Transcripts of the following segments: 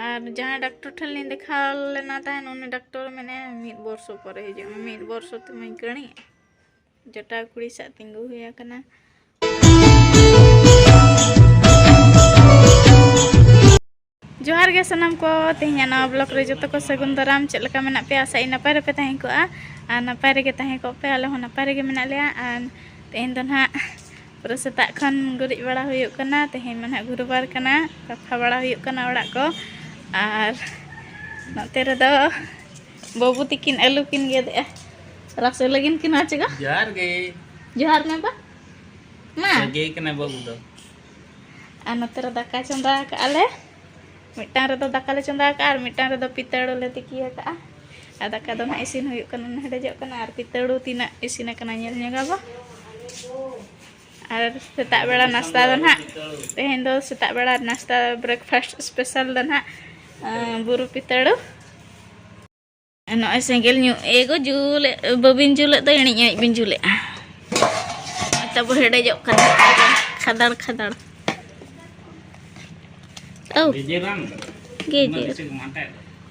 ᱟᱨ ᱡᱟᱦᱟᱸᱭ ᱰᱟᱠᱴᱚᱨ ᱴᱷᱮᱱ ᱞᱤᱧ ᱫᱮᱠᱷᱟᱣ ᱞᱮᱱᱟ ᱛᱟᱦᱮᱱ ᱩᱱᱤ ᱰᱟᱠᱴᱚᱨ ᱢᱮᱱᱟᱭᱟ ᱢᱤᱫ ᱵᱚᱨᱥᱚ ᱯᱚᱨᱮ ᱦᱤᱡᱩᱜ ᱢᱮ ᱢᱤᱫ ᱵᱚᱨᱥᱚ ᱛᱮᱢᱟᱹᱧ ᱠᱟᱹᱬᱤᱜ ᱡᱚᱴᱟ ᱠᱩᱲᱤ ᱥᱟᱜ ᱛᱤᱸᱜᱩ ᱦᱩᱭ ᱟᱠᱟᱱᱟ ᱡᱚᱦᱟᱨ ᱜᱮ ᱥᱟᱱᱟᱢ ᱠᱚ ᱛᱮᱦᱮᱧ ᱱᱟᱣᱟ ᱵᱞᱚᱜ ᱨᱮ ᱡᱚᱛᱚ ᱠᱚ ᱥᱟᱹᱜᱩᱱ ᱫᱟᱨᱟᱢ ᱪᱮᱫ ᱞᱮᱠᱟ ᱢᱮᱱᱟᱜ ᱯᱮᱭᱟ ᱟᱥᱟ ᱤᱧ ᱱᱟᱯᱟᱭ ᱨᱮᱯᱮ ᱛᱟᱦᱮᱸ ᱠᱚᱜᱼᱟ ᱟᱨ ᱱᱟᱯᱟᱭ ᱨᱮᱜᱮ ᱛᱟᱦᱮᱸ ᱠᱚᱜ ᱯᱮ ᱟᱞᱮ ᱦᱚᱸ ᱱᱟᱯᱟᱭ ᱨᱮᱜᱮ ᱢᱮᱱᱟᱜ ᱞᱮᱭᱟ ᱟᱨ ᱛᱮᱦᱮᱧ ᱫᱚ ᱱᱟᱦᱟᱜ ᱯᱩᱨᱟᱹ ᱥᱮᱛᱟᱜ ᱠᱷᱚᱱ ᱜᱩᱨᱤᱡ ᱵᱟᱲᱟ ᱦᱩᱭᱩᱜ ᱠᱟᱱᱟ ᱛᱮᱦᱮᱧ ᱢᱟ ᱱᱟᱦᱟᱜ ᱜᱩᱨᱩᱵᱟᱨ ᱠᱟᱱᱟ ᱥᱟᱯᱷᱟ ᱵᱟᱲᱟ ᱦᱩᱭᱩᱜ ᱠᱟᱱᱟ ᱚᱲᱟᱜ ᱠᱚ ᱟᱨ ᱱᱚᱛᱮ ᱨᱮᱫᱚ ᱵᱟᱹᱵᱩ ᱛᱤᱠᱤᱱ ᱟᱹᱞᱩ ᱠᱤᱱ ᱜᱮᱫᱮᱜᱼᱟ ᱨᱟᱥᱮ ᱞᱟᱹᱜᱤᱫ ᱠᱤᱱ ᱟᱪᱮᱜᱟ ᱡᱚᱦᱟᱨ ᱜᱮ ᱡᱚᱦᱟᱨ ᱢᱮ ᱵᱟ ᱢᱟ ᱥᱟᱹᱜᱟᱹᱭ ᱠᱟᱱᱟ ᱵᱟᱹᱵᱩ ᱫᱚ ᱟᱨ ᱱᱚᱛᱮ ᱨᱮ ᱫᱟᱠᱟ ᱪᱚᱸᱫᱟ ᱟᱠᱟᱜᱼᱟ ᱞᱮ ᱢᱤᱫᱴᱟᱝ ᱨᱮᱫᱚ ᱫᱟᱠᱟ ᱞᱮ ᱪᱚᱸᱫᱟ ᱟᱠᱟᱫᱼᱟ ᱟᱨ ᱢᱤᱫᱴᱟᱝ ᱨᱮᱫᱚ ᱯᱤᱛᱟᱹᱲᱩ ᱞᱮ ᱛᱤᱠᱤ ᱟᱠᱟᱫᱼᱟ ᱟᱨ ᱫᱟᱠᱟ ᱫᱚ ᱱᱟᱦᱟᱜ ᱤᱥᱤᱱ ᱦᱩᱭᱩᱜ ᱠᱟᱱᱟ ᱦᱮᱰᱮᱡᱚᱜ ᱠᱟᱱᱟ ᱟᱨ ᱯᱤᱛᱟᱹᱲᱩ ᱛᱤᱱᱟᱹᱜ ᱤᱥᱤᱱ ᱟᱠᱟᱱᱟ ᱧᱮᱞ ᱧᱚᱜᱟ ᱵᱚ ᱟᱨ ᱥᱮᱛᱟᱜ ᱵᱮᱲᱟ ᱱᱟᱥᱛᱟ ᱫᱚ ᱱᱟᱦᱟᱜ ᱛᱮᱦᱮᱧ ᱫᱚ ᱥᱮᱛᱟᱜ ᱵᱮᱲᱟ ᱱᱟᱥᱛᱟ ᱵᱨᱮᱠᱯᱷᱟᱥᱴ ᱥᱯᱮᱥᱟᱞ ᱫᱚ ᱱᱟᱦᱟᱜ ᱵᱩᱨᱩ ᱯᱤᱛᱟᱹᱲᱩ ᱱᱚᱜᱼᱚᱭ ᱥᱮᱸᱜᱮᱞ ᱧᱩ ᱮᱜᱚ ᱡᱩᱞ ᱵᱟᱹᱵᱤᱱ ᱡᱩᱞᱮᱫ ᱫᱚ ᱮᱬᱮᱡ ᱮᱬᱮᱡ ᱵᱤᱱ ᱡᱩᱞᱮᱜᱼᱟ ᱛᱟᱵᱚ ᱦᱮᱰᱮᱡᱚᱜ ᱠᱟᱱᱟ ᱠᱷᱟᱫᱟᱲ ᱠᱷᱟᱫᱟᱲ ᱛᱟᱹᱣ ᱜᱮᱡᱮᱨ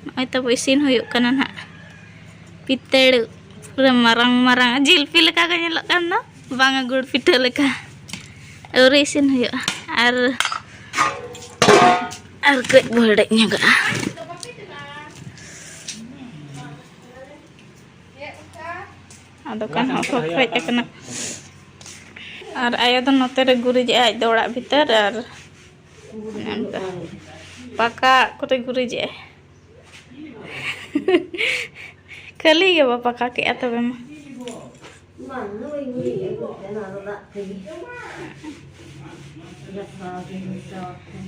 ᱱᱚᱜᱼᱚᱭ ᱛᱟᱵᱚ ᱤᱥᱤᱱ ᱦᱩᱭᱩᱜ ᱠᱟᱱᱟ ᱱᱟᱜ ᱯᱤᱛᱟᱹᱲ ᱯᱩᱨᱟᱹ ᱢᱟᱨᱟᱝ ᱢᱟᱨᱟᱝ ᱡᱤᱞᱯᱤ ᱞᱮᱠᱟ ᱜᱮ ᱧᱮᱞᱚᱜ ᱠᱟᱱ ᱫᱚ ᱵᱟᱝᱟ ᱜᱩᱲ ᱯᱤᱴᱷᱟᱹ ᱞᱮᱠᱟ ᱟᱹᱣᱨᱤ ᱤᱥᱤᱱ ᱦᱩᱭᱩᱜᱼᱟ ᱟᱨ ᱟᱨ ᱠᱟᱹᱡ ᱵᱚ ᱦᱮᱰᱮᱡ ᱧᱚᱜᱟᱜᱼᱟ ᱟᱫᱚ ᱠᱟᱱ ᱦᱚᱸ ᱠᱷᱚᱠ ᱦᱮᱡ ᱟᱠᱟᱱᱟ ᱟᱨ ᱟᱭᱳ ᱫᱚ ᱱᱚᱛᱮ ᱨᱮ ᱜᱩᱨᱤᱡᱮᱜᱼᱟ ᱟᱡ ᱫᱚ ᱚᱲᱟᱜ ᱵᱷᱤᱛᱟᱹᱨ ᱟᱨ ᱚᱱᱠᱟ ᱯᱟᱠᱟ ᱠᱚᱨᱮ ᱜᱩᱨᱤᱡᱮᱜᱼᱟᱭ ᱠᱷᱟᱹᱞᱤ ᱜᱮ ᱵᱟ ᱯᱟᱠᱟ ᱠᱮᱜᱼᱟ ᱛᱚᱵᱮ ᱢᱟ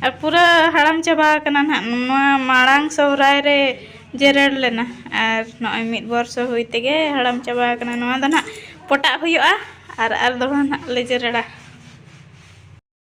ᱟᱨ ᱯᱩᱨᱟᱹ ᱦᱟᱲᱟᱢ ᱪᱟᱵᱟ ᱟᱠᱟᱱᱟ ᱱᱟᱦᱟᱜ ᱱᱚᱣᱟ ᱢᱟᱲᱟᱝ ᱥᱚᱦᱨᱟᱭ ᱨᱮ ᱡᱮᱨᱮᱲ ᱞᱮᱱᱟ ᱟᱨ ᱱᱚᱜᱼᱚᱭ ᱢᱤᱫ ᱵᱚᱨᱥᱚ ᱦᱩᱭ ᱛᱮᱜᱮ ᱦᱟᱲᱟᱢ ᱪᱟᱵᱟ ᱟᱠᱟᱱᱟ ᱱᱚᱣᱟ ᱫᱚ ᱱᱟᱦᱟᱜ ᱯᱚᱴᱟᱜ ᱦᱩᱭᱩᱜᱼᱟ ᱟᱨ ᱟᱨ ᱫᱚᱲᱦᱟ ᱱᱟᱦᱟᱜ ᱞᱮ ᱡᱮᱨᱮᱲᱟ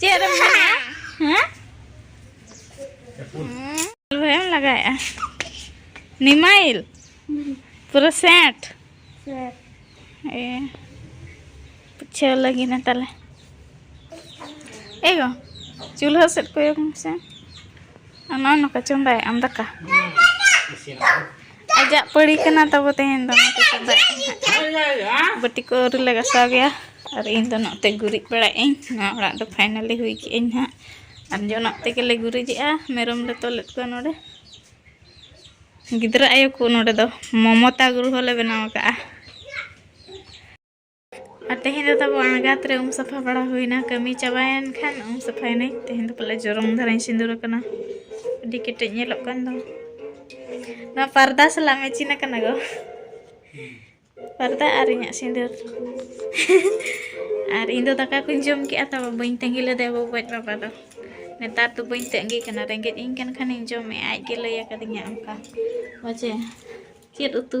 ᱪᱮᱫ ᱨᱮᱢ ᱢᱮᱱᱟ ᱦᱮᱸ ᱵᱷᱟᱭᱟᱢ ᱞᱟᱜᱟᱭᱮᱜᱼᱟ ᱱᱤᱢᱟᱭᱤᱞ ᱯᱩᱨᱟᱹ ᱥᱮᱴ ᱮ ᱯᱩᱪᱷᱟᱹᱣ ᱞᱟᱹᱜᱤᱫ ᱱᱟ ᱛᱟᱦᱞᱮ ᱮᱜᱚ ᱪᱩᱞᱦᱟᱹ ᱥᱮᱫ ᱠᱚᱭᱚᱜ ᱢᱮᱥᱮ ᱚᱱᱟ ᱱᱚᱠᱟ ᱪᱚᱸᱫᱟᱭᱮᱜ ᱟᱢ ᱫᱟᱠᱟ ᱟᱡᱟᱜ ᱯᱟᱹᱲᱤ ᱠᱟᱱᱟ ᱛᱟᱵᱚ ᱛᱮᱦᱮᱧ ᱫᱚ ᱱᱚᱛᱮ ᱪᱚᱸᱫᱟᱭ ᱵᱟᱹᱴᱤ ᱠᱚ ᱟᱹᱣᱨᱤ ᱞᱮ ᱜᱟᱥᱟᱣ ᱜᱮᱭᱟ ᱟᱨ ᱤᱧ ᱫᱚ ᱱᱚᱛᱮ ᱜᱩᱨᱤᱡ ᱵᱟᱲᱟᱭᱮᱫ ᱟᱹᱧ ᱱᱚᱣᱟ ᱚᱲᱟᱜ ᱫᱚ ᱯᱷᱟᱭᱱᱟᱞᱤ ᱦᱩᱭ ᱠᱮᱜ ᱟᱹᱧ ᱦᱟᱸᱜ ᱟᱨ ᱡᱚᱱᱚᱜ ᱛᱮᱜᱮᱞᱮ ᱜᱩᱨᱤᱡᱮᱜᱼᱟ ᱢᱮᱨᱚᱢ ᱞᱮ ᱛᱚᱞᱮᱫ ᱠᱚᱣᱟ ᱱᱚᱰᱮ ᱜᱤᱫᱽᱨᱟᱹ ᱟᱭᱳ ᱠᱚ ᱱᱚᱰᱮ ᱫᱚ ᱢᱚᱢᱚᱛᱟ ᱜᱨᱚᱦᱚ ᱞᱮ ᱵᱮᱱᱟᱣ ᱟᱠᱟᱫᱼᱟ ᱟᱨ ᱛᱮᱦᱮᱧ ᱫᱚ ᱛᱟᱵᱚ ᱟᱬᱜᱟᱛ ᱨᱮ ᱩᱢ ᱥᱟᱯᱷᱟ ᱵᱟᱲᱟ ᱦᱩᱭᱱᱟ ᱠᱟᱹᱢᱤ ᱪᱟᱵᱟᱭᱮᱱ ᱠᱷᱟᱱ ᱩᱢ ᱥᱟᱯᱷᱟᱭᱮᱱᱟᱹᱧ ᱛᱮᱦᱮᱧ ᱫᱚ ᱯᱟᱞᱮ ᱡᱚᱨᱚᱝ ᱫᱷᱟᱨᱟᱧ ᱥᱤᱸᱫᱩᱨ ᱟᱠᱟᱱᱟ ᱟᱹᱰᱤ ᱠᱮᱴᱮᱡ ᱧᱮᱞᱚᱜ ᱠᱟᱱ ᱫᱚ ᱱᱚᱣᱟ ᱯᱟᱨᱫᱟ ᱥᱟᱞᱟᱜ ᱢᱮᱪᱤᱱ ᱟᱠᱟᱱᱟ ᱜᱚ ᱯᱟᱨᱫᱟ ᱟᱨ ᱤᱧᱟᱹᱜ ᱥᱤᱸᱫᱩᱨ ᱟᱨ ᱤᱧ ᱫᱚ ᱫᱟᱠᱟ ᱠᱚᱧ ᱡᱚᱢ ᱠᱮᱜᱼᱟ ᱛᱟᱵᱚ ᱵᱟᱹᱧ ᱛᱟᱺᱜᱤ ᱞᱮᱫᱮ ᱟᱵᱚ ᱜᱚᱡ ᱵᱟᱵᱟ ᱫᱚ ᱱᱮᱛᱟᱨ ᱫᱚ ᱵᱟᱹᱧ ᱛᱟᱺᱜᱤ ᱠᱟᱱᱟ ᱨᱮᱸᱜᱮᱡ ᱤᱧ ᱠᱟᱱ ᱠᱷᱟᱱᱤᱧ ᱡᱚᱢᱮᱜᱼᱟ ᱟᱡ ᱜᱮ ᱞᱟᱹᱭ ᱟᱠᱟᱫᱤᱧᱟ ᱚᱱᱠᱟ ᱵᱟᱪᱮ ᱪᱮᱫ ᱩᱛᱩ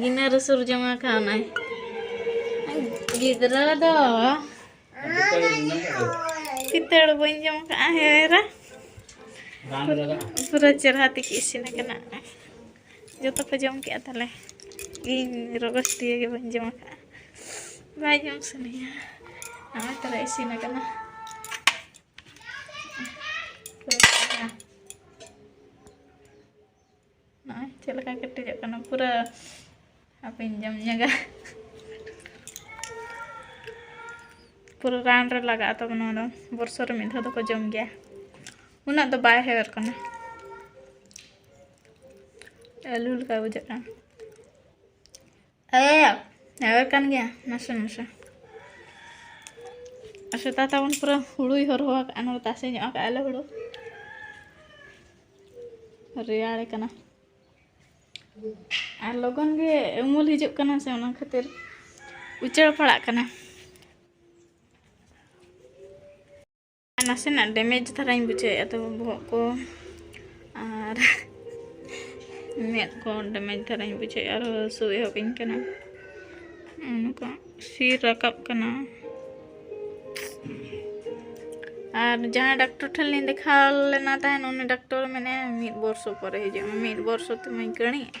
ᱜᱤᱱᱟᱹ ᱨᱮ ᱥᱩᱨ ᱡᱚᱝ ᱟᱠᱟᱱᱟᱭ ᱜᱤᱫᱽᱨᱟᱹ ᱫᱚ ᱯᱤᱛᱟᱹᱲ ᱵᱟᱹᱧ ᱡᱚᱢ ᱠᱟᱜᱼᱟ ᱦᱮᱨᱟ ᱯᱩᱨᱟᱹ ᱪᱮᱨᱦᱟ ᱛᱮᱜᱮ ᱤᱥᱤᱱ ᱟᱠᱟᱱᱟ ᱡᱚᱛᱚ ᱠᱚ ᱡᱚᱢ ᱠᱮᱜᱼᱟ ᱛᱟᱦᱞᱮ ᱤᱧ ᱨᱚᱜᱚᱥ ᱫᱤᱭᱮ ᱜᱮ ᱵᱟᱹᱧ ᱡᱚᱢ ᱟᱠᱟᱜᱼᱟ ᱵᱟᱭ ᱡᱚᱢ ᱥᱟᱱᱟᱭᱟ ᱱᱚᱜᱼᱚᱭ ᱛᱟᱦᱞᱮ ᱤᱥᱤᱱ ᱟᱠᱟᱱᱟ ᱱᱚᱜᱼᱚᱭ ᱪᱮᱫ ᱞᱮᱠᱟ ᱠᱮᱴᱮᱡᱚᱜ ᱠᱟᱱᱟ ᱯᱩᱨᱟᱹ ᱦᱟᱯᱮᱧ ᱡᱚᱢ ᱧᱚᱜᱟ ᱯᱩᱨᱟᱹ ᱨᱟᱱ ᱨᱮ ᱞᱟᱜᱟᱜᱼᱟ ᱛᱚᱵᱮ ᱱᱚᱣᱟ ᱫᱚ ᱵᱚᱨᱥᱚ ᱨᱮ ᱢᱤᱫ ᱫᱷᱟᱣ ᱫᱚᱠᱚ ᱡᱚᱢ ᱜᱮᱭᱟ ᱩᱱᱟᱹᱜ ᱫᱚ ᱵᱟᱭ ᱦᱮᱣᱮᱨ ᱠᱟᱱᱟ ᱟᱹᱞᱩ ᱞᱮᱠᱟ ᱵᱩᱡᱷᱟᱹᱜ ᱠᱟᱱᱟ ᱦᱮᱸ ᱦᱮᱣᱮᱨ ᱠᱟᱱ ᱜᱮᱭᱟ ᱱᱟᱥᱮ ᱱᱟᱥᱮ ᱥᱮᱛᱟ ᱛᱟᱵᱚᱱ ᱯᱩᱨᱟᱹ ᱦᱩᱲᱩᱭ ᱦᱚᱨᱦᱚ ᱟᱠᱟᱫᱼᱟ ᱱᱚᱰᱮ ᱛᱟᱥᱮ ᱧᱚᱜ ᱟᱠᱟᱫᱼᱟ ᱞᱮ ᱦᱩᱲᱩ ᱨᱮᱭᱟᱲ ᱠᱟᱱᱟ ᱟᱨ ᱞᱚᱜᱚᱱ ᱜᱮ ᱩᱢᱩᱞ ᱦᱤᱡᱩᱜ ᱠᱟᱱᱟ ᱥᱮ ᱚᱱᱟ ᱠᱷᱟᱹᱛᱤᱨ ᱩᱪᱟᱹᱲ ᱯᱟᱲᱟᱜ ᱠᱟᱱᱟ ᱱᱟᱥᱮᱱᱟᱜ ᱰᱮᱢᱮᱡᱽ ᱫᱷᱟᱨᱟᱧ ᱵᱩᱡᱷᱟᱹᱣᱮᱫᱼᱟ ᱛᱚ ᱵᱚᱦᱚᱜ ᱠᱚ ᱟᱨ ᱢᱮᱫ ᱠᱚ ᱰᱮᱢᱮᱡᱽ ᱫᱷᱟᱨᱟᱧ ᱵᱩᱡᱷᱟᱹᱣᱮᱫᱼᱟ ᱟᱨ ᱦᱟᱹᱥᱩ ᱮᱦᱚᱵᱤᱧ ᱠᱟᱱᱟ ᱚᱱᱠᱟ ᱥᱤᱨ ᱨᱟᱠᱟᱵ ᱠᱟᱱᱟ ᱟᱨ ᱡᱟᱦᱟᱸᱭ ᱰᱟᱠᱴᱚᱨ ᱴᱷᱮᱱ ᱞᱤᱧ ᱫᱮᱠᱷᱟᱣ ᱞᱮᱱᱟ ᱛᱟᱦᱮᱱ ᱩᱱᱤ ᱰᱟᱠᱴᱚᱨ ᱢᱮᱱᱮᱫᱼᱟ ᱢᱤᱫ ᱵᱚᱨᱥᱚ ᱯᱚᱨᱮ ᱦᱤᱡᱩᱜ ᱢᱮ ᱢᱤᱫ ᱵᱚᱨᱥᱚ ᱛᱮᱢᱟᱧ ᱠᱟᱹᱬᱤᱜᱼᱟ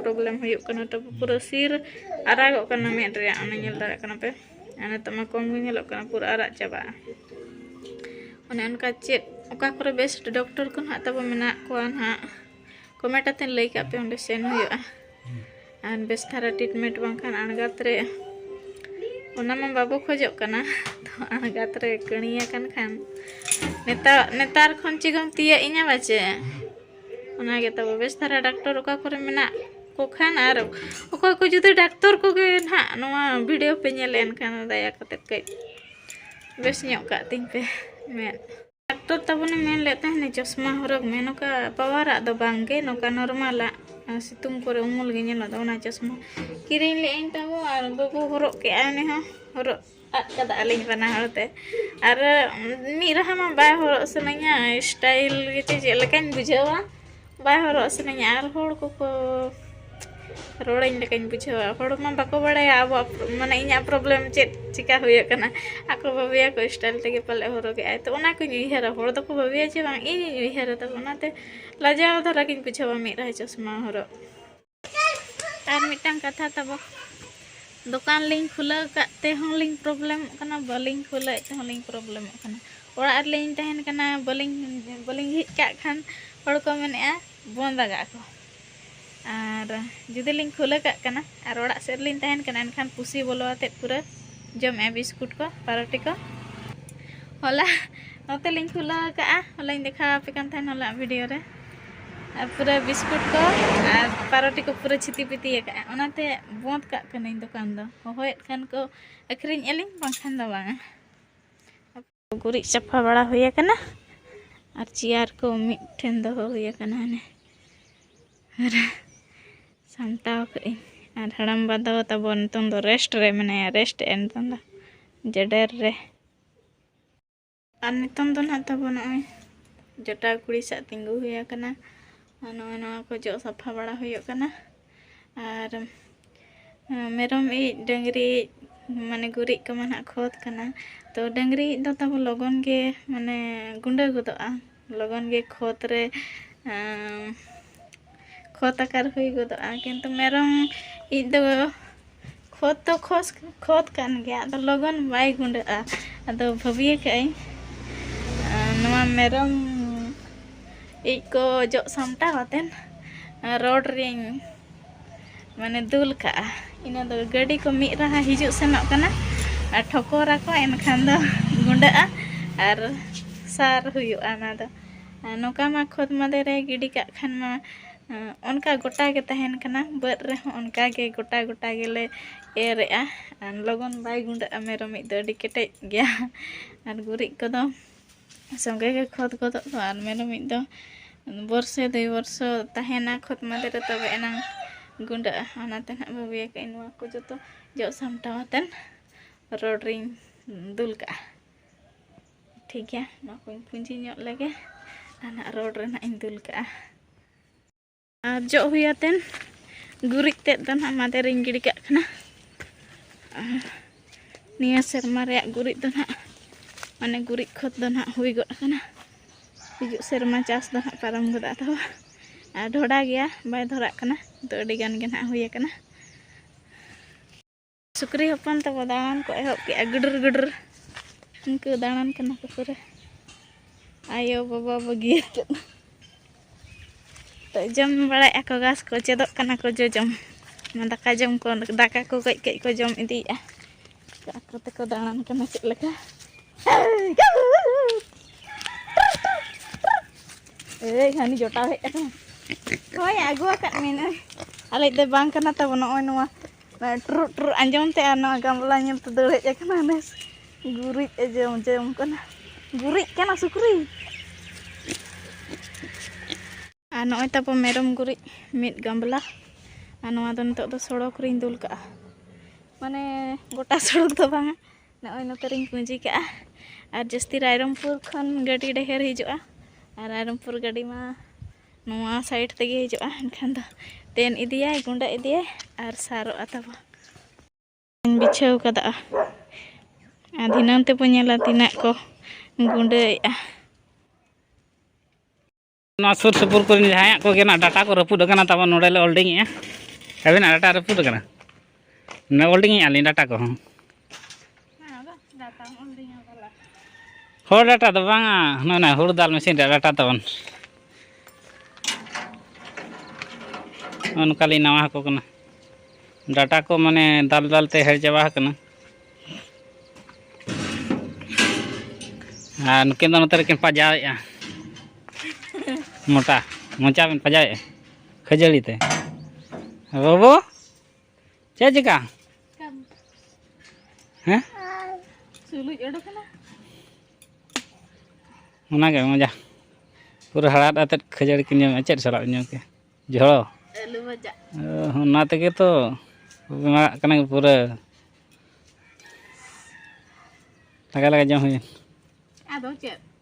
ᱯᱨᱚᱵᱞᱮᱢ ᱦᱩᱭᱩᱜ ᱠᱟᱱᱟ ᱛᱟᱯᱚᱨ ᱯᱩᱨᱟᱹ ᱥᱤᱨ ᱟᱨᱟᱜᱚᱜ ᱠᱟᱱᱟ ᱢᱮᱫ ᱨᱮᱭᱟᱜ ᱚᱱᱟ ᱧᱮᱞ ᱫᱟᱲᱮᱭᱟᱜ ᱠᱟᱱᱟ ᱯᱮ ᱟᱨ ᱱᱤᱛᱚᱜ ᱢᱟ ᱠᱚᱢ ᱜᱮ ᱧᱮᱞᱚᱜ ᱠᱟᱱᱟ ᱯᱩᱨᱟᱹ ᱟᱨᱟᱜ ᱪᱟᱵᱟᱜᱼᱟ ᱚᱱᱮ ᱚᱱᱠᱟ ᱪᱮᱫ ᱚᱠᱟ ᱠᱚᱨᱮ ᱵᱮᱥᱴ ᱰᱚᱠᱴᱚᱨ ᱠᱚ ᱱᱟᱦᱟᱜ ᱛᱟᱵᱚ ᱢᱮᱱᱟᱜ ᱠᱚᱣᱟ ᱱᱟᱦᱟᱜ ᱠᱚᱢᱮᱱᱴ ᱟᱛᱮᱫ ᱞᱟᱹᱭ ᱠᱟᱜ ᱯᱮ ᱚᱸᱰᱮ ᱥᱮᱱ ᱦᱩᱭᱩᱜᱼᱟ ᱟᱨ ᱵᱮᱥ ᱫᱷᱟᱨᱟ ᱴᱨᱤᱴᱢᱮᱱᱴ ᱵᱟᱝᱠᱷᱟᱱ ᱟᱬᱜᱟᱛ ᱨᱮ ᱚᱱᱟ ᱢᱟ ᱵᱟᱵᱚ ᱠᱷᱚᱡᱚᱜ ᱠᱟᱱᱟ ᱛᱚ ᱟᱬᱜᱟᱛ ᱨᱮ ᱠᱟᱹᱬᱤᱭᱟᱠᱟᱱ ᱠᱷᱟᱱ ᱱᱮᱛᱟᱨ ᱱᱮᱛᱟᱨ ᱠᱷᱚᱱ ᱪᱮᱫ ᱮᱢ ᱛᱤᱭᱟᱹᱜ ᱤᱧᱟ ᱵᱟᱪᱮ ᱚᱱᱟ ᱜᱮ ᱛᱟᱵᱚ ᱵᱮᱥ ᱫᱷᱟᱨᱟ ᱰᱟᱠᱛᱚᱨ ᱚᱠᱟ ᱠᱚᱨᱮ ᱢᱮᱱᱟᱜ ᱠᱚ ᱠᱷᱟᱱ ᱟᱨ ᱚᱠᱚᱭ ᱠᱚ ᱡᱩᱫᱤ ᱰᱟᱠᱛᱚᱨ ᱠᱚᱜᱮ ᱱᱟᱦᱟᱜ ᱱᱚᱣᱟ ᱵᱷᱤᱰᱤᱭᱳ ᱯᱮ ᱧᱮᱞ ᱮᱱᱠᱷᱟᱱ ᱫᱟᱭᱟ ᱠᱟᱛᱮ ᱠᱟᱹᱡ ᱵᱮᱥ ᱧᱚᱜ ᱠᱟᱜ ᱛᱤᱧ ᱯᱮ ᱢᱮᱫ ᱰᱟᱠᱛᱚᱨ ᱛᱟᱵᱚᱱᱮ ᱢᱮᱱ ᱞᱮᱫ ᱛᱟᱦᱮᱱᱟ ᱪᱚᱥᱢᱟ ᱦᱚᱨᱚᱜ ᱢᱮ ᱱᱚᱝᱠᱟ ᱯᱟᱣᱟᱨᱟᱜ ᱫᱚ ᱵᱟᱝᱜᱮ ᱱᱚᱝᱠᱟ ᱱᱚᱨᱢᱟᱞᱟᱜ ᱥᱤᱛᱩᱝ ᱠᱚᱨᱮ ᱩᱢᱩᱞ ᱜᱮ ᱧᱮᱞᱚᱜ ᱫᱚ ᱚᱱᱟ ᱪᱚᱥᱢᱟ ᱠᱤᱨᱤᱧ ᱞᱮᱫᱟᱹᱧ ᱛᱟᱵᱚ ᱟᱨ ᱵᱟᱹᱵᱩ ᱦᱚᱨᱚᱜ ᱠᱮᱫᱟᱭ ᱩᱱᱤ ᱦᱚᱸ ᱦᱚᱨᱚᱜ ᱟᱫ ᱠᱟᱫᱟ ᱟᱹᱞᱤᱧ ᱵᱟᱱᱟ ᱦᱚᱲᱛᱮ ᱟᱨ ᱢᱤᱫ ᱨᱟᱦᱟ ᱢᱟ ᱵᱟᱭ ᱦᱚᱨᱚᱜ ᱥᱟᱱᱟᱧᱟ ᱥᱴᱟᱭᱤᱞ ᱜᱮᱪᱚ ᱪᱮᱫ ᱞᱮᱠᱟᱧ ᱵᱩᱡᱷᱟᱹᱣᱟ ᱵᱟᱭ ᱦᱚᱨᱚᱜ ᱥᱟᱱᱟᱧᱟ ᱟᱨ ᱦᱚᱲ ᱠᱚᱠᱚ ᱨᱚᱲᱟᱹᱧ ᱞᱮᱠᱟᱧ ᱵᱩᱡᱷᱟᱹᱣᱟ ᱦᱚᱲ ᱢᱟ ᱵᱟᱠᱚ ᱵᱟᱲᱟᱭᱟ ᱟᱵᱚᱣᱟᱜ ᱢᱟᱱᱮ ᱤᱧᱟᱹᱜ ᱯᱨᱚᱵᱞᱮᱢ ᱪᱮᱫ ᱪᱤᱠᱟᱹ ᱦᱩᱭᱩᱜ ᱠᱟᱱᱟ ᱟᱠᱚ ᱵᱷᱟᱹᱵᱤᱭᱟᱠᱚ ᱥᱴᱟᱭᱤᱞ ᱛᱮᱜᱮ ᱯᱟᱞᱮᱫ ᱦᱚᱨᱚᱜᱮᱫᱟᱭ ᱛᱳ ᱚᱱᱟ ᱠᱚᱧ ᱩᱭᱦᱟᱹᱨᱟ ᱦᱚᱲ ᱫᱚᱠᱚ ᱵᱷᱟᱹᱵᱤᱭᱟ ᱡᱮ ᱵᱟᱝ ᱤᱧᱤᱧ ᱩᱭᱦᱟᱹᱨᱟ ᱛᱟᱵᱚ ᱚᱱᱟᱛᱮ ᱞᱟᱡᱟᱣ ᱫᱷᱟᱨᱟ ᱜᱮᱧ ᱵᱩᱡᱷᱟᱹᱣᱟ ᱢᱤᱫ ᱨᱟᱦᱟ ᱪᱚᱥᱢᱟ ᱦᱚᱨᱚᱜ ᱟᱨ ᱢᱤᱫᱴᱟᱝ ᱠᱟᱛᱷᱟ ᱛᱟᱵᱚ ᱫᱚᱠᱟᱱ ᱞᱤᱧ ᱠᱷᱩᱞᱟᱹᱣ ᱠᱟᱜ ᱛᱮᱦᱚᱸ ᱞᱤᱧ ᱯᱨᱚᱵᱞᱮᱢᱚᱜ ᱠᱟᱱᱟ ᱵᱟᱹᱞᱤᱧ ᱠᱷᱩᱞᱟᱹᱣᱮᱫ ᱛᱮᱦᱚᱸ ᱞᱤᱧ ᱯᱨᱚᱵᱞᱮᱢᱚᱜ ᱠᱟᱱᱟ ᱚᱲᱟᱜ ᱨᱮᱞᱤᱧ ᱛᱟᱦᱮᱱ ᱠᱟᱱᱟ ᱵᱟᱹᱞᱤᱧ ᱵᱟᱹᱞᱤᱧ ᱡᱷᱤᱡ ᱠᱟᱜ ᱠᱷᱟᱱ ᱦᱚᱲ ᱠᱚ ᱢᱮᱱᱮᱜᱼᱟ ᱵᱚᱱᱫ ᱟᱠᱟᱜ ᱠᱚ ᱟᱨ ᱡᱩᱫᱤ ᱞᱤᱧ ᱠᱷᱩᱞᱟᱹᱣ ᱠᱟᱜ ᱠᱟᱱᱟ ᱟᱨ ᱚᱲᱟᱜ ᱥᱮᱫ ᱨᱮᱞᱤᱧ ᱛᱟᱦᱮᱱ ᱠᱟᱱᱟ ᱮᱱᱠᱷᱟᱱ ᱯᱩᱥᱤ ᱵᱚᱞᱚ ᱟᱛᱮᱫ ᱯᱩᱨᱟᱹ ᱡᱚᱢᱮᱜᱼᱟ ᱵᱤᱥᱠᱩᱴ ᱠᱚ ᱯᱟᱨᱚᱴᱤ ᱠᱚ ᱦᱚᱞᱟ ᱱᱚᱛᱮ ᱞᱤᱧ ᱠᱷᱩᱞᱟᱹᱣ ᱟᱠᱟᱫᱼᱟ ᱦᱚᱞᱟᱧ ᱫᱮᱠᱷᱟᱣ ᱟᱯᱮ ᱠᱟᱱ ᱛᱟᱦᱮᱱ ᱦᱚᱞᱟ ᱵᱷᱤᱰᱤᱭᱳ ᱨᱮ ᱟᱨ ᱯᱩᱨᱟᱹ ᱵᱤᱥᱠᱩᱴ ᱠᱚ ᱟᱨ ᱯᱟᱨᱚᱴᱤ ᱠᱚ ᱯᱩᱨᱟᱹ ᱪᱷᱤᱛᱤ ᱯᱤᱛᱤ ᱟᱠᱟᱫᱼᱟ ᱚᱱᱟᱛᱮ ᱵᱚᱸᱫᱽ ᱠᱟᱜ ᱠᱟᱹᱱᱟᱹᱧ ᱫᱚᱠᱟᱱ ᱫᱚ ᱦᱚᱦᱚᱭᱮᱫ ᱠᱷᱟᱱ ᱠᱚ ᱟᱹᱠᱷᱨᱤᱧᱮᱫᱼᱟ ᱞᱤᱧ ᱵᱟᱝᱠᱷᱟᱱ ᱫᱚ ᱵᱟᱝᱟ ᱜᱩᱨᱤᱡ ᱥᱟᱯᱷᱟ ᱵᱟᱲᱟ ᱦᱩᱭ ᱟᱠᱟᱱᱟ ᱟᱨ ᱪᱮᱭᱟᱨ ᱠᱚ ᱢᱤᱫᱴᱷᱮᱱ ᱫᱚᱦᱚ ᱦᱩᱭ ᱟᱠᱟᱱᱟ ᱦᱟᱱᱮ ᱟᱨ ᱥᱟᱢᱴᱟᱣ ᱠᱟᱜ ᱟᱹᱧ ᱟᱨ ᱦᱟᱲᱟᱢᱵᱟ ᱫᱚ ᱛᱟᱵᱚ ᱱᱤᱛᱚᱝ ᱫᱚ ᱨᱮᱥᱴ ᱨᱮ ᱢᱮᱱᱟᱭᱟ ᱨᱮᱥᱴ ᱮᱫᱼᱟ ᱱᱤᱛᱚᱝ ᱫᱚ ᱡᱮᱰᱮᱨ ᱨᱮ ᱟᱨ ᱱᱤᱛᱚᱝ ᱫᱚ ᱱᱟᱦᱟᱜ ᱛᱟᱵᱚ ᱱᱚᱜᱼᱚᱭ ᱡᱚᱴᱟᱣ ᱠᱩᱲᱤ ᱥᱟᱜ ᱛᱤᱸᱜᱩ ᱦᱩᱭ ᱟᱠᱟᱱᱟ ᱟᱨ ᱱᱚᱜᱼᱚᱭ ᱱᱚᱣᱟ ᱠᱚ ᱡᱚᱜ ᱥᱟᱯᱷᱟ ᱵᱟᱲᱟ ᱦᱩᱭᱩᱜ ᱠᱟᱱᱟ ᱟᱨ ᱢᱮᱨᱚᱢ ᱤᱡ ᱰᱟᱹᱝᱨᱤ ᱤᱡ ᱢᱟᱱᱮ ᱜᱩᱨᱤᱡ ᱠᱚᱢᱟ ᱱᱟᱦᱟᱜ ᱠᱷᱚᱛ ᱠᱟᱱᱟ ᱛᱚ ᱰᱟᱹᱝᱨᱤ ᱤᱡ ᱫᱚ ᱛᱟᱵᱚ ᱞᱚᱜᱚᱱ ᱜᱮ ᱢᱟᱱᱮ ᱜᱩᱸᱰᱟᱹ ᱜᱚᱫᱚᱜᱼᱟ ᱞᱚᱜᱚᱱ ᱜᱮ ᱠᱷᱚᱛ ᱨᱮ ᱠᱷᱚᱛ ᱟᱠᱟᱨ ᱦᱩᱭ ᱜᱚᱫᱚᱜᱼᱟ ᱠᱤᱱᱛᱩ ᱢᱮᱨᱚᱢ ᱤᱡ ᱫᱚ ᱠᱷᱚᱛ ᱫᱚ ᱠᱷᱚᱥ ᱠᱷᱚᱛ ᱠᱟᱱ ᱜᱮᱭᱟ ᱟᱫᱚ ᱞᱚᱜᱚᱱ ᱵᱟᱭ ᱜᱩᱸᱰᱟᱹᱜᱼᱟ ᱟᱫᱚ ᱵᱷᱟᱹᱵᱤ ᱟᱠᱟᱫ ᱟᱹᱧ ᱱᱚᱣᱟ ᱢᱮᱨᱚᱢ ᱤᱡ ᱠᱚ ᱡᱚᱜ ᱥᱟᱢᱴᱟᱣ ᱠᱟᱛᱮᱫ ᱨᱚᱰ ᱨᱤᱧ ᱢᱟᱱᱮ ᱫᱩᱞ ᱠᱟᱜᱼᱟ ᱤᱱᱟᱹ ᱫᱚ ᱜᱟᱹᱰᱤ ᱠᱚ ᱢᱤᱫ ᱨᱟᱦᱟ ᱦᱤᱡᱩᱜ ᱥᱮᱱᱚᱜ ᱠᱟᱱᱟ ᱟᱨ ᱴᱷᱚᱠᱚᱨ ᱟᱠᱚ ᱮᱱᱠᱷᱟᱱ ᱫᱚ ᱜᱩᱸᱰᱟᱹᱜᱼᱟ ᱟᱨ ᱥᱟᱨ ᱦᱩᱭᱩᱜᱼᱟ ᱚᱱᱟ ᱫᱚ ᱱᱚᱝᱠᱟ ᱢᱟ ᱠᱷᱚᱛ ᱢᱟᱫᱮ ᱨᱮ ᱜᱤᱰᱤ ᱠᱟᱜ ᱠᱷᱟᱱ ᱢᱟ ᱚᱱᱠᱟ ᱜᱚᱴᱟ ᱜᱮ ᱛᱟᱦᱮᱱ ᱠᱟᱱᱟ ᱵᱟᱹᱫᱽ ᱨᱮᱦᱚᱸ ᱚᱱᱠᱟ ᱜᱮ ᱜᱚᱴᱟ ᱜᱚᱴᱟ ᱜᱮᱞᱮ ᱮᱨᱮᱜᱼᱟ ᱟᱨ ᱞᱚᱜᱚᱱ ᱵᱟᱭ ᱜᱩᱸᱰᱟᱹᱜᱼᱟ ᱢᱮᱨᱚᱢ ᱤᱡ ᱫᱚ ᱟᱹᱰᱤ ᱠᱮᱴᱮᱡ ᱜᱮᱭᱟ ᱟᱨ ᱜᱩᱨᱤᱡ ᱠᱚᱫᱚ ᱥᱚᱸᱜᱮ ᱜᱮ ᱠᱷᱚᱛ ᱜᱚᱫᱚᱜ ᱫᱚ ᱟᱨ ᱢᱮᱨᱚᱢ ᱤᱡ ᱫᱚ ᱵᱚᱨᱥᱮ ᱫᱩᱭ ᱵᱚᱨᱥᱚ ᱛᱟᱦᱮᱱᱟ ᱠᱷᱚᱛ ᱢᱟᱫᱮ ᱨᱮ ᱛᱚᱵᱮ ᱮᱱᱟᱝ ᱜᱩᱸᱰᱟᱹᱜᱼᱟ ᱚᱱᱟᱛᱮ ᱱᱟᱦᱟᱜ ᱵᱷᱟᱹᱵᱤ ᱟᱠᱟᱫ ᱟᱹᱧ ᱱᱚᱣᱟ ᱠᱚ ᱡᱚᱛᱚ ᱡᱚᱜ ᱥᱟᱢᱴᱟᱣ ᱠᱟᱛᱮᱫ ᱨᱚᱰ ᱨᱤᱧ ᱫᱩᱞ ᱠᱟᱜᱼᱟ ᱴᱷᱤᱠ ᱜᱮᱭᱟ ᱱᱚᱣᱟ ᱠᱚᱧ ᱯᱩᱸᱡᱤ ᱧᱚᱜ ᱞᱮᱜᱮ ᱟᱨ ᱱᱟᱦᱟᱜ ᱨᱚᱰ ᱨᱮ ᱱᱟᱦᱟᱜ ᱤᱧ ᱫᱩᱞ ᱠᱟᱜᱼᱟ ᱟᱨ ᱡᱚᱜ ᱦᱩᱭ ᱟᱛᱮᱱ ᱜᱩᱨᱤᱡ ᱛᱮᱫ ᱫᱚ ᱱᱟᱦᱟᱜ ᱢᱟᱫᱮ ᱨᱤᱧ ᱜᱤᱰᱤ ᱠᱟᱜ ᱠᱟᱱᱟ ᱟᱨ ᱱᱤᱭᱟᱹ ᱥᱮᱨᱢᱟ ᱨᱮᱭᱟᱜ ᱜᱩᱨᱤᱡ ᱫᱚ ᱱᱟᱦᱟᱜ ᱢᱟᱱᱮ ᱜᱩᱨᱤᱡ ᱠᱷᱚᱛ ᱫᱚ ᱱᱟᱦᱟᱜ ᱦᱩᱭ ᱜᱚᱫ ᱟᱠᱟᱱᱟ ᱦᱤᱡᱩᱜ ᱥᱮᱨᱢᱟ ᱪᱟᱥ ᱫᱚ ᱱᱟᱦᱟᱜ ᱯᱟᱨᱚᱢ ᱜᱚᱫᱚᱜ ᱛᱟᱵᱚᱱ ᱟᱨ ᱰᱷᱚᱰᱟ ᱜᱮᱭᱟ ᱵᱟᱭ ᱫᱷᱚᱨᱟᱜ ᱠᱟᱱᱟ ᱛᱚ ᱟᱹᱰᱤ ᱜᱟᱱ ᱜᱮ ᱱᱟᱦᱟᱜ ᱦᱩᱭ ᱟᱠᱟᱱᱟ ᱥᱩᱠᱨᱤ ᱦᱚᱯᱚᱱ ᱛᱟᱠᱚ ᱫᱟᱬᱟᱱ ᱠᱚ ᱮᱦᱚᱵ ᱠᱮᱜᱼᱟ ᱜᱟᱹᱰᱨ ᱜᱟᱹᱰᱨ ᱩᱱᱠᱩ ᱫᱟᱬᱟᱱ ᱠᱟᱱᱟ ᱠᱚ ᱯᱩᱨᱟᱹ ᱟᱭᱳ ᱵᱟᱵᱟ ᱵᱟᱹᱜᱤᱭᱟ ᱪᱮᱫ ᱛᱚ ᱡᱚᱢ ᱵᱟᱲᱟᱭᱮᱜᱼᱟ ᱠᱚ ᱜᱷᱟᱥ ᱠᱚ ᱪᱮᱫᱚᱜ ᱠᱟᱱᱟ ᱠᱚ ᱡᱚᱡᱚᱢ ᱚᱱᱟ ᱫᱟᱠᱟ ᱡᱚᱢ ᱠᱚ ᱫᱟᱠᱟ ᱠᱚ ᱠᱟᱹᱡ ᱠᱟᱹᱡ ᱠᱚ ᱡᱚᱢ ᱤᱫᱤᱭᱮᱜᱼᱟ ᱟᱠᱚ ᱛᱮᱠᱚ ᱫᱟᱬᱟᱱ ᱠᱟᱱᱟ ᱪᱮᱫ ᱞᱮᱠᱟ ᱮᱭ ᱦᱟᱹᱱᱤ ᱡᱚᱴᱟᱣ ᱦᱮᱡ ᱟᱠᱟᱱᱟ ᱦᱳᱭ ᱟᱹᱜᱩ ᱟᱠᱟᱫ ᱢᱮᱱᱟᱹᱧ ᱟᱞᱮ ᱫᱚ ᱵᱟᱝ ᱠᱟᱱᱟ ᱛᱟᱵᱚ ᱱᱚᱜᱼᱚᱭ ᱱᱚᱣᱟ ᱴᱩᱨᱩᱜ ᱴᱩᱨᱩᱜ ᱟᱸᱡᱚᱢ ᱛᱮ ᱟᱨ ᱱᱚᱣᱟ ᱜᱟᱢᱞᱟ ᱧᱮᱞ ᱛᱮ ᱫᱟᱹᱲ ᱦᱮᱡ ᱟᱠᱟᱱᱟ ᱱᱮᱥ ᱜᱩᱨᱤᱡ ᱮ ᱡᱚᱢ ᱡᱚᱢ ᱠᱟᱱᱟ ᱜᱩᱨᱤᱡ ᱠᱟᱱᱟ ᱥᱩᱠᱨᱤ ᱟᱨ ᱱᱚᱜᱼᱚᱭ ᱛᱟᱵᱚ ᱢᱮᱨᱚᱢ ᱜᱩᱨᱤᱡ ᱢᱤᱫ ᱜᱟᱢᱞᱟ ᱟᱨ ᱱᱚᱣᱟ ᱫᱚ ᱱᱤᱛᱚᱜ ᱫᱚ ᱥᱚᱲᱚᱠ ᱨᱤᱧ ᱫᱩᱞ ᱠᱟᱜᱼᱟ ᱢᱟᱱᱮ ᱜᱚᱴᱟ ᱥᱚᱲᱚᱠ ᱫᱚ ᱵᱟᱝᱟ ᱱᱚᱜᱼᱚᱭ ᱱᱚᱛᱮ ᱨᱤᱧ ᱯᱩᱸᱡᱤ ᱠᱟᱜᱼᱟ ᱟᱨ ᱡᱟᱹᱥᱛᱤ ᱨᱟᱭᱨᱚᱝᱯᱩᱨ ᱠᱷᱚᱱ ᱜᱟᱹᱰᱤ ᱰᱷᱮᱨ ᱦᱤᱡᱩᱜᱼᱟ ᱟᱨ ᱨᱟᱭᱨᱚᱝᱯᱩᱨ ᱜᱟᱹᱰᱤ ᱢᱟ ᱱᱚᱣᱟ ᱥᱟᱭᱤᱰ ᱛᱮᱜᱮ ᱦᱤᱡᱩᱜᱼᱟ ᱮᱱᱠᱷᱟᱱ ᱫᱚ ᱛᱮᱱ ᱤᱫᱤᱭᱟᱭ ᱜᱩᱸᱰᱟᱹ ᱤᱫᱤᱭᱟᱭ ᱟᱨ ᱥᱟᱨᱚᱜᱼᱟ ᱛᱟᱵᱚᱱ ᱵᱤᱪᱷᱟᱹᱣ ᱠᱟᱫᱟ ᱟᱨ ᱫᱷᱤᱱᱟᱹᱝ ᱛᱮᱵᱚᱱ ᱧᱮᱞᱟ ᱛᱤᱱᱟᱹᱜ ᱠᱚ ᱜᱩᱸᱰᱟᱹᱭᱮᱫᱼᱟ ᱱᱚᱣᱟ ᱥᱩᱨ ᱥᱩᱯᱩᱨ ᱠᱚᱨᱮᱱ ᱡᱟᱦᱟᱸᱭᱟᱜ ᱠᱚᱜᱮ ᱱᱟᱜ ᱰᱟᱴᱟ ᱠᱚ ᱨᱟᱹᱯᱩᱫ ᱟᱠᱟᱱᱟ ᱛᱟᱵᱚᱱ ᱱᱚᱰᱮ ᱞᱮ ᱚᱞᱰᱤᱝ ᱮᱫᱼᱟ ᱟᱹᱵᱤᱱᱟᱜ ᱰᱟᱴᱟ ᱨᱟᱹᱯᱩᱫ ᱟᱠᱟᱱᱟ ᱚᱱᱟ ᱚᱞᱰᱤᱝ ᱟᱹᱞᱤᱧ ᱰᱟᱴᱟ ᱠᱚᱦᱚᱸ ᱦᱚᱲ ᱰᱟᱴᱟ ᱫᱚ ᱵᱟᱝᱟ ᱱᱚᱜᱼᱚᱭ ᱦᱩᱲᱩ ᱫᱟᱞ ᱢᱮᱥᱤᱱ ᱨᱮ ᱰᱟᱴᱟ ᱛᱟᱵᱚᱱ ᱚᱱᱠᱟᱞᱤᱧ ᱱᱟᱣᱟ ᱟᱠᱚ ᱠᱟᱱᱟ ᱰᱟᱴᱟ ᱠᱚ ᱢᱟᱱᱮ ᱫᱟᱞ ᱫᱟᱞ ᱛᱮ ᱦᱮᱲ ᱪᱟᱵᱟ ᱟᱠᱟᱱᱟ ᱟᱨ ᱱᱩᱠᱤᱱ ᱫᱚ ᱱᱚᱛᱮ ᱨᱮᱠᱤᱱ ᱯᱟᱡᱟᱣᱮᱫᱼᱟ ᱢᱚᱴᱟ ᱢᱚᱪᱟ ᱵᱤᱱ ᱯᱟᱡᱟᱣᱮᱫᱼᱟ ᱠᱷᱟᱹᱡᱟᱹᱲᱤ ᱛᱮ ᱵᱟᱹᱵᱩ ᱪᱮᱫ ᱪᱮᱠᱟ ᱦᱮᱸ ᱥᱩᱞᱩᱡ ᱚᱰᱚᱠᱮᱱᱟ ᱚᱱᱟᱜᱮ ᱢᱚᱡᱟ ᱯᱩᱨᱟᱹ ᱦᱟᱲᱟᱫ ᱟᱛᱮᱫ ᱠᱷᱟᱹᱡᱟᱹᱲᱤ ᱠᱤᱱ ᱡᱚᱢᱮᱜᱼᱟ ᱪᱮᱫ ᱥᱟᱞᱟᱜ ᱡᱚᱢ ᱠᱮ ᱡᱷᱚᱲᱚ ᱟᱹᱞᱩ ᱵᱷᱟᱡᱟ ᱚᱱᱟ ᱛᱮᱜᱮ ᱛᱚ ᱵᱮᱢᱟᱨᱟᱜ ᱠᱟᱱᱟ ᱯᱩᱨᱟᱹ ᱞᱟᱜᱟ ᱞᱟᱜᱟ ᱡᱚᱢ ᱦᱩᱭᱮᱱ ᱟᱫᱚ ᱪᱮᱫ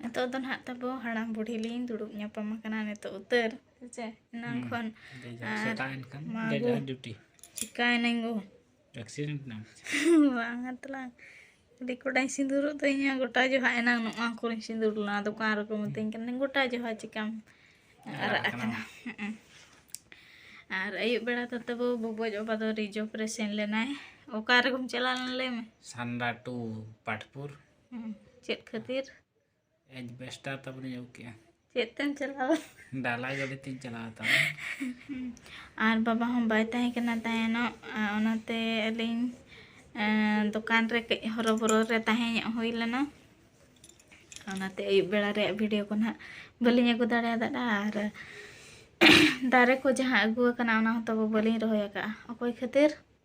ᱱᱤᱛᱚᱜ ᱫᱚ ᱱᱟᱦᱟᱜ ᱛᱟᱵᱚ ᱦᱟᱲᱟᱢ ᱵᱩᱰᱷᱤ ᱞᱤᱧ ᱫᱩᱲᱩᱵ ᱧᱟᱯᱟᱢ ᱟᱠᱟᱱᱟ ᱱᱤᱛᱚᱜ ᱩᱛᱟᱹᱨ ᱦᱮᱸᱥᱮ ᱮᱱᱟᱝ ᱠᱷᱚᱱ ᱪᱤᱠᱟᱭᱮᱱᱟᱹᱧ ᱜᱚ ᱮᱠᱥᱤᱰᱮᱱᱴ ᱱᱟᱢ ᱵᱟᱝᱟ ᱛᱟᱞᱟᱝ ᱟᱹᱰᱤ ᱠᱚᱴᱟᱧ ᱥᱤᱸᱫᱩᱨᱚᱜ ᱫᱚ ᱤᱧᱟᱹᱜ ᱜᱚᱴᱟ ᱡᱚᱦᱟᱜ ᱮᱱᱟᱝ ᱱᱚᱣᱟ ᱠᱚᱨᱮᱧ ᱥᱤᱸᱫᱩᱨ ᱞᱮᱱᱟ ᱫᱚᱠᱟᱱ ᱨᱮᱠᱚ ᱢᱤᱛᱟᱹᱧ ᱠᱟᱱᱟ ᱜᱚᱴᱟ ᱡᱚᱦᱟᱜ ᱪᱤᱠᱟᱢ ᱟᱨᱟᱜ ᱟᱠᱟᱱᱟ ᱟᱨ ᱟᱹᱭᱩᱵ ᱵᱮᱲᱟ ᱫᱚ ᱛᱟᱵᱚ ᱵᱩᱵᱚᱡ ᱵᱟᱵᱟ ᱫᱚ ᱨᱤᱡᱚᱵᱽ ᱨᱮ ᱥᱮᱱ ᱞᱮᱱᱟᱭ ᱚᱠᱟ ᱨᱮᱜᱮᱢ ᱪᱟᱞᱟᱣ ᱞᱮᱱᱟ ᱞᱟᱹᱭ ᱢᱮ ᱥᱟᱱᱰᱟ ᱴᱩ ᱯᱟᱴᱯᱩᱨ ᱪᱮᱫ ᱠᱷᱟᱹᱛᱤᱨ ᱮᱡᱵᱮᱥᱴᱟᱨ ᱛᱟᱵᱚᱱᱤᱧ ᱟᱹᱜᱩ ᱠᱮᱜᱼᱟ ᱪᱮᱫ ᱛᱮᱢ ᱪᱟᱞᱟᱣᱟ ᱰᱟᱞᱟᱭ ᱜᱟᱹᱰᱤ ᱛᱤᱧ ᱪᱟᱞᱟᱣ ᱛᱟᱢᱟ ᱟᱨ ᱵᱟᱵᱟ ᱦᱚᱸ ᱵᱟᱭ ᱛᱟᱦᱮᱸ ᱠᱟᱱᱟ ᱛᱟᱦᱮᱱᱚᱜ ᱚᱱᱟᱛᱮ ᱟᱹᱞᱤᱧ ᱫᱚᱠᱟᱱ ᱨᱮ ᱠᱟᱹᱡ ᱦᱚᱨᱚᱵᱚᱨᱚ ᱨᱮ ᱛᱟᱦᱮᱸ ᱧᱚᱜ ᱦᱩᱭ ᱞᱮᱱᱟ ᱚᱱᱟᱛᱮ ᱟᱹᱭᱩᱵ ᱵᱮᱲᱟ ᱨᱮᱭᱟᱜ ᱵᱷᱤᱰᱤᱭᱳ ᱠᱚ ᱱᱟᱦᱟᱜ ᱵᱟᱹᱞᱤᱧ ᱟᱹᱜᱩ ᱫᱟᱲᱮᱭᱟᱫᱟ ᱟᱨ ᱫᱟᱨᱮ ᱠᱚ ᱡᱟᱦᱟᱸ ᱟᱹᱜᱩ ᱟᱠᱟᱱᱟ ᱚᱱᱟ ᱦᱚᱸ ᱛᱟᱵᱚ ᱵᱟᱹᱞᱤᱧ ᱨᱚᱦᱚᱭ ᱟᱠᱟᱫᱼᱟ ᱚᱠᱚᱭ ᱠᱷᱟᱹᱛᱤᱨ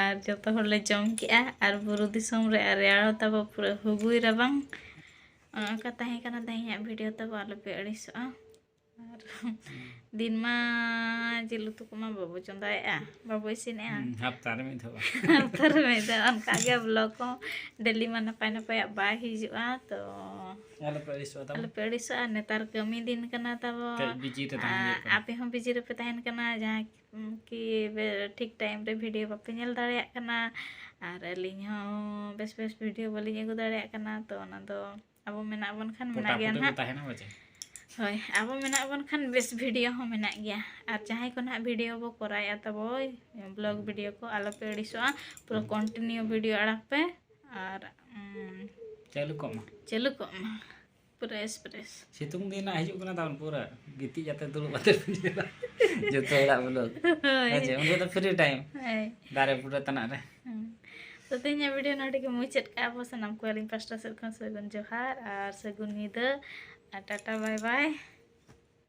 ᱟᱨ ᱡᱚᱛᱚ ᱦᱚᱲ ᱞᱮ ᱡᱚᱢ ᱠᱮᱜᱼᱟ ᱟᱨ ᱵᱩᱨᱩ ᱫᱤᱥᱚᱢ ᱨᱮ ᱟᱨ ᱨᱮᱭᱟᱲ ᱦᱚᱸ ᱛᱟᱵᱚ ᱯᱩᱨᱟᱹ ᱦᱩᱜᱩᱭ ᱨᱟᱵᱟᱝ ᱚᱱᱮ ᱚᱱᱠᱟ ᱛᱟᱦᱮᱸ ᱠᱟᱱᱟ ᱛᱮᱦᱮᱧᱟᱜ ᱵᱷᱤᱰᱤᱭᱳ ᱛᱟᱵᱚ ᱟᱞᱚᱯᱮ ᱟᱹᱲᱤᱥᱚᱜᱼᱟ ᱟᱨ ᱫᱤᱱ ᱢᱟ ᱡᱤᱞ ᱩᱛᱩ ᱠᱚᱢᱟ ᱵᱟᱵᱚ ᱪᱚᱸᱫᱟᱭᱮᱜᱼᱟ ᱵᱟᱵᱚ ᱤᱥᱤᱱᱮᱜᱼᱟ ᱦᱟᱯᱛᱟ ᱨᱮ ᱢᱤᱫ ᱫᱷᱟᱣ ᱦᱟᱯᱛᱟ ᱨᱮ ᱢᱤᱫ ᱫᱷᱟᱣ ᱚᱱᱠᱟᱜᱮ ᱵᱞᱚᱜ ᱦᱚᱸ ᱰᱮᱞᱤ ᱢᱟ ᱱᱟᱯᱟᱭ ᱱᱟᱯᱟᱭᱟᱜ ᱵᱟᱭ ᱦᱤᱡᱩᱜᱼᱟ ᱛᱚ ᱟᱞᱚᱯᱮ ᱟᱹᱲᱤᱥᱚᱜᱼᱟ ᱛᱟᱵᱚ ᱟᱞᱚᱯᱮ ᱟᱹᱲᱤᱥᱚᱜᱼᱟ ᱱᱮᱛᱟᱨ ᱠᱟᱹᱢᱤ ᱫᱤᱱ ᱠᱟᱱᱟ ᱛᱟᱵᱚ ᱠᱟᱹᱡ ᱵᱤᱡᱤ ᱨᱮ ᱛᱟᱦᱮᱸ ᱦᱩᱭᱩᱜ ᱠᱟᱱᱟ ᱟᱯᱮ ᱦᱚᱸ ᱵᱤᱡᱤ ᱨᱮᱯᱮ ᱛᱟᱦᱮᱱ ᱠᱟᱱᱟ ᱡᱟᱦᱟᱸ ᱠᱤ ᱴᱷᱤᱠ ᱴᱟᱭᱤᱢ ᱨᱮ ᱵᱷᱤᱰᱤᱭᱳ ᱵᱟᱯᱮ ᱧᱮᱞ ᱫᱟᱲᱮᱭᱟᱜ ᱠᱟᱱᱟ ᱟᱨ ᱟᱹᱞᱤᱧ ᱦᱚᱸ ᱵᱮᱥ ᱵᱮᱥ ᱵᱷᱤᱰᱤᱭᱳ ᱵᱟᱹᱞᱤᱧ ᱟᱹᱜᱩ ᱫᱟᱲᱮᱭᱟᱜ ᱠᱟᱱᱟ ᱛᱚ ᱚᱱᱟ ᱫᱚ ᱟᱵᱚ ᱢᱮᱱᱟᱜ ᱵᱚᱱ ᱠᱷᱟᱱ ᱢᱮᱱᱟᱜ ᱜᱮᱭᱟ ᱱᱟᱦᱟᱜ ᱦᱳᱭ ᱟᱵᱚ ᱢᱮᱱᱟᱜ ᱵᱚᱱ ᱠᱷᱟᱱ ᱵᱮᱥ ᱵᱷᱤᱰᱤᱭᱳ ᱦᱚᱸ ᱢᱮᱱᱟᱜ ᱜᱮᱭᱟ ᱟᱨ ᱡᱟᱦᱟᱸᱭ ᱠᱚ ᱱᱟᱦᱟᱜ ᱵᱷᱤᱰᱤᱭᱳ ᱵᱚ ᱠᱚᱨᱟᱣᱮᱫᱼᱟ ᱛᱟᱵᱚ ᱵᱞᱚᱜ ᱵᱷᱤᱰᱤᱭᱳ ᱠᱚ ᱟᱞᱚᱯᱮ ᱟᱹᱲᱤᱥᱚᱜᱼᱟ ᱯᱩᱨᱟᱹ ᱠᱚᱱᱴᱤᱱᱤᱭᱩ ᱵᱷᱤᱰᱤᱭᱳ ᱟᱲᱟᱜ ᱯᱮ ᱟᱨ ᱪᱟᱹᱞᱩ ᱠᱚᱜ ᱢᱟ ᱪᱟᱹᱞᱩ ᱠᱚᱜ ᱢᱟ ᱯᱨᱮᱥ ᱯᱨᱮᱥ ᱥᱤᱛᱩᱝ ᱫᱤᱱ ᱦᱟᱸᱜ ᱦᱤᱡᱩᱜ ᱠᱟᱱᱟ ᱛᱟᱵᱚᱱ ᱯᱩᱨᱟᱹ ᱜᱤᱛᱤᱡ ᱠᱟᱛᱮ ᱫᱩᱲᱩᱵ ᱠᱟᱛᱮ ᱡᱚᱛᱚ ᱦᱚᱲᱟᱜ ᱵᱚᱞᱚ ᱦᱮᱸ ᱪᱮ ᱩᱱᱤ ᱫᱚ ᱯᱷᱨᱤ ᱴᱟᱭᱤᱢ ᱫᱟᱨᱮ ᱵᱩᱴᱟᱹ ᱛᱟᱱᱟᱜ ᱨᱮ ᱛᱚ ᱛᱮᱦᱮᱧᱟᱜ ᱵᱷᱤᱰᱤᱭᱳ ᱱᱚᱰᱮ ᱜᱮ ᱢᱩᱪᱟᱹᱫ ᱠᱟᱜᱼᱟ ᱵᱚ ᱥᱟᱱᱟᱢ ᱠᱚ ᱟᱹᱞᱤᱧ ᱯᱟᱥᱴᱟ ᱥᱮᱫ ᱠᱷᱚᱱ ᱥᱟᱹᱜᱩᱱ ᱡᱚᱦᱟᱨ ᱟᱨ ᱥᱟᱹᱜᱩᱱ ᱧᱤᱫᱟᱹ ᱟᱨ ᱴᱟᱴᱟ ᱵᱟᱭ ᱵᱟᱭ